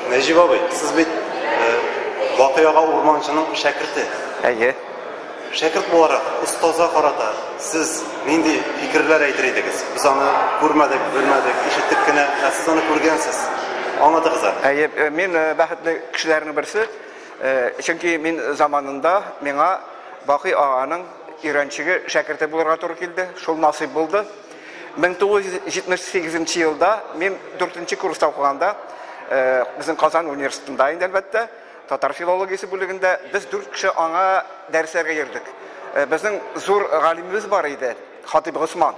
Нәҗип абый, сез бит э, Бакый ага урманчының шәкерте. Әйе. Шәкерт буларак, остазга карата сез нинди фикерләр әйтер идегез? Без аны күрмәдек, белмәдек, ишеттек кенә, ә сез аны күргәнсез. Аңлатыгыз әле. Әйе, мин бәхетле кешеләрнең берсе, чөнки мин заманында миңа Бакый аганың өйрәнчеге, шәкерте булырга туры килде, шул насыйп булды. 1978 нче елда, мин дүртенче курста укыганда, безнең Казан университетында инде, әлбәттә, Татар филологиясе бүлегендә без дүрт кеше аңа дәресләргә йөрдек. Безнең зур галимебез бар иде, Хатыйп Госман,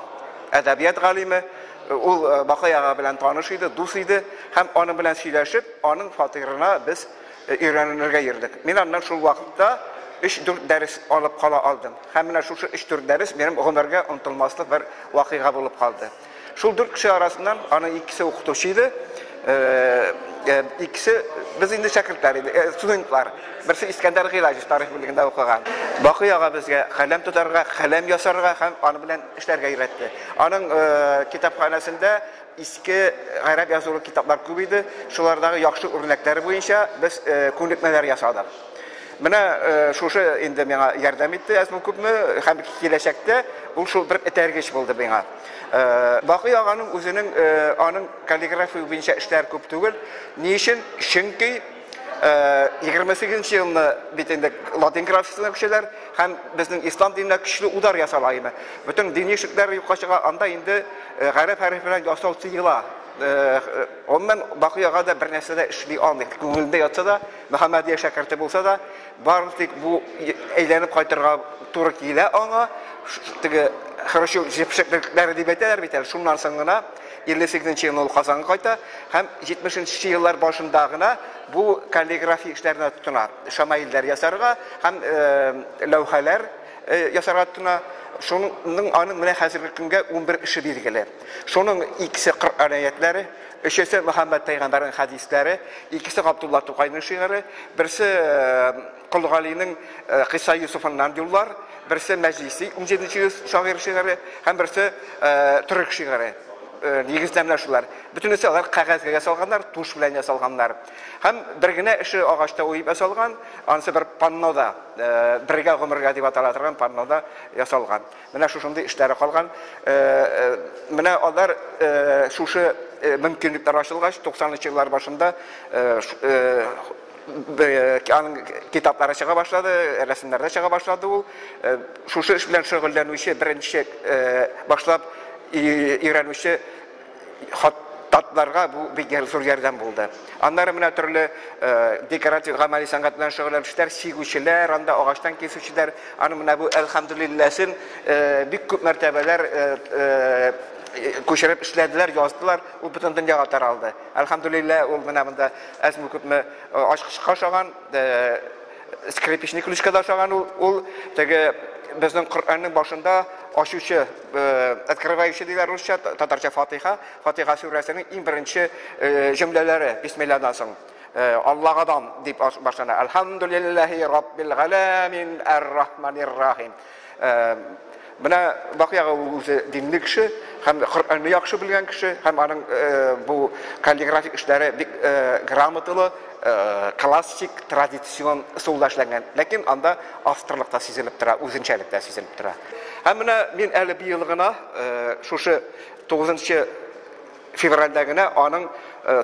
әдәбият галиме. Ул Бакый ага белән таныш иде, дус иде һәм аның белән сөйләшеп, аның фатирына без өйрәнергә йөрдек. Мин аннан шул вакытта өч-дүрт дәрес алып кала алдым. Һәм менә шушы өч-дүрт дәрес минем гомергә онытылмаслык бер вакыйга булып калды. Шул дүрт кеше арасыннан аның икесе укытучы иде, икесе без инде шәкертләр иде, студентлар. Берсе Искәндәр Гыйлаҗев тарих бүлегендә укыган. Бакый ага безгә каләм тотарга, каләм ясарга һәм аны белән эшләргә өйрәтте. Аның китапханәсендә иске гәрәп язулы китаплар күп иде. Шулардагы яхшы үрнәкләр буенча без күнекмәләр ясадык. Менә шушы инде миңа ярдәм итте, әзме-күпме, һәм киләчәктә ул шул бер этәргеч булды миңа. Бакый аганың үзенең аның каллиграфия буенча эшләр күп түгел. Ни өчен? Чөнки 28 нче елны бит инде латин графикасына күчәләр һәм безнең ислам диненә көчле удар ясала иде. Бөтен дини шикләр юкка чыга, анда инде гарәп хәрефе белән ясау тыела. Гомумән, Бакый ага да бер нәрсә дә эшли алмый. Күңелендә ятса да, Мөхәммәдия шәкерте булса да, Бары тик бу әйләнеп кайтырга туры килә аңа, теге хрущев җепшеклекләре дип әйтәләр бит әле, шуннан соң гына, 58 елны ул Казанга кайта һәм 70 нче еллар башында гына бу каллиграфия эшләренә тотына, шамаилләр ясарга һәм ләүхәләр ясарга тотына, шуның аның менә хәзерге көнгә унбер эше билгеле. Шуның икесе Коръән әятләре, өчесе Мөхәммәд пәйгамбәрнең хәдисләре, икесе Габдулла Тукайның шигыре, берсе Кол э, Галинең э, Кыйса Юсуфыннан юллар, берсе Мәҗлиси 17 йөз шагыйрь шигыре һәм берсе э, төрек шигыре. Нигездәмләр шулар. Бөтенесе алар кәгазьгә салганнар, туш белән ясалганнар. Һәм бер генә эше агачта уеп ясалган, анысы бер паннода, бергә гомергә дип атала торган паннода ясалган. Менә шушындый эшләре калган. Менә алар шушы мөмкинлекләр ачылгач, 90 нчы еллар башында китаплары чыга башлады, рәсемнәрдә чыга башлады ул. Шушы эш белән шөгыльләнүче, беренче башлап өйрәнүче Хат татларга бу бик зур ярдәм булды. Аннары менә төрле декоратив гамәли сәнгать белән шөгыльләнүчеләр, чигүчеләр, анда агачтан кисүчеләр, аны менә бу әлхәмдүлилләсен бик күп мәртәбәләр күчереп эшләделәр, яздылар, ул бөтен дөньяга таралды. Әлхәмдүлиллә, ул менә монда әзме күпме ачкычка ошаган, скрипичный ключка да ошаган ул, ул теге безнең Коръәннең башында ачучы, Э, открывающий диләр русча, татарча фатиха. Фатиха сүрәсенең иң беренче э, җөмләләре бисмиллаһдан соң. Э, Аллагадан дип башлана. Алхамдулиллахи раббил галамин ар-рахманир рахим. Менә бакыягы үзе динле кеше, һәм Коръәнне яхшы белгән кеше, һәм аның бу каллиграфик эшләре бик грамоталы, Классик, традицион ысулда эшләнгән, ләкин анда авторлык та сизелеп тора, үзенчәлек тә сизелеп тора. Һәм менә мин әле быел гына, шушы 9 февральдә генә аның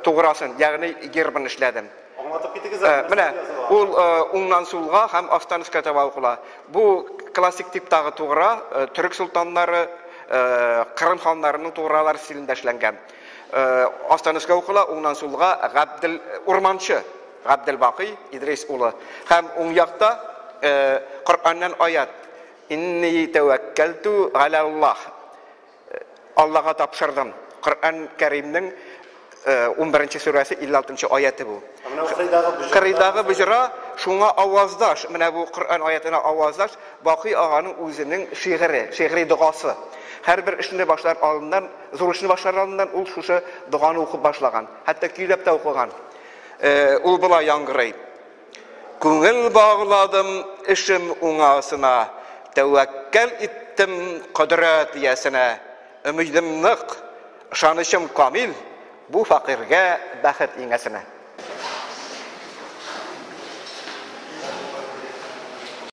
туграсын, ягъни гербын эшләдем. Аңлатып китегез әле, нәрсә языла? Менә ул уңнан сулга һәм астан өскә таба укыла. Бу классик типтагы тугра, төрек солтаннары, Кырым ханнарының тугралары стилендә эшләнгән. Астан өскә укыла, уңнан сулга Габдел Урманчы, Габдел Бакый Идрис улы. Һәм уң якта Коръәннән аят. Инни тәвәккәлту галә Аллаһ. Аллага тапшырдым. Коръән Кәримнең 11 сүрәсе 56 аяты бу. Кырыйдагы бөҗра шуңа аваздаш, менә бу Коръән аятына аваздаш Бакый аганың үзенең шигыре, шигъри догасы. Һәрбер эшне башлар алдыннан Зур эшне башлар алдыннан ул шушы доганы укып башлаган. Хәтта көйләп тә укыган. Ул болай яңгырый. Күңел багладым эшем уңасына, тәвәккәл иттем кодрәт иясенә. Өмидем нык, ышанычым камил, бу фәкыйрьгә бәхет иңәсенә.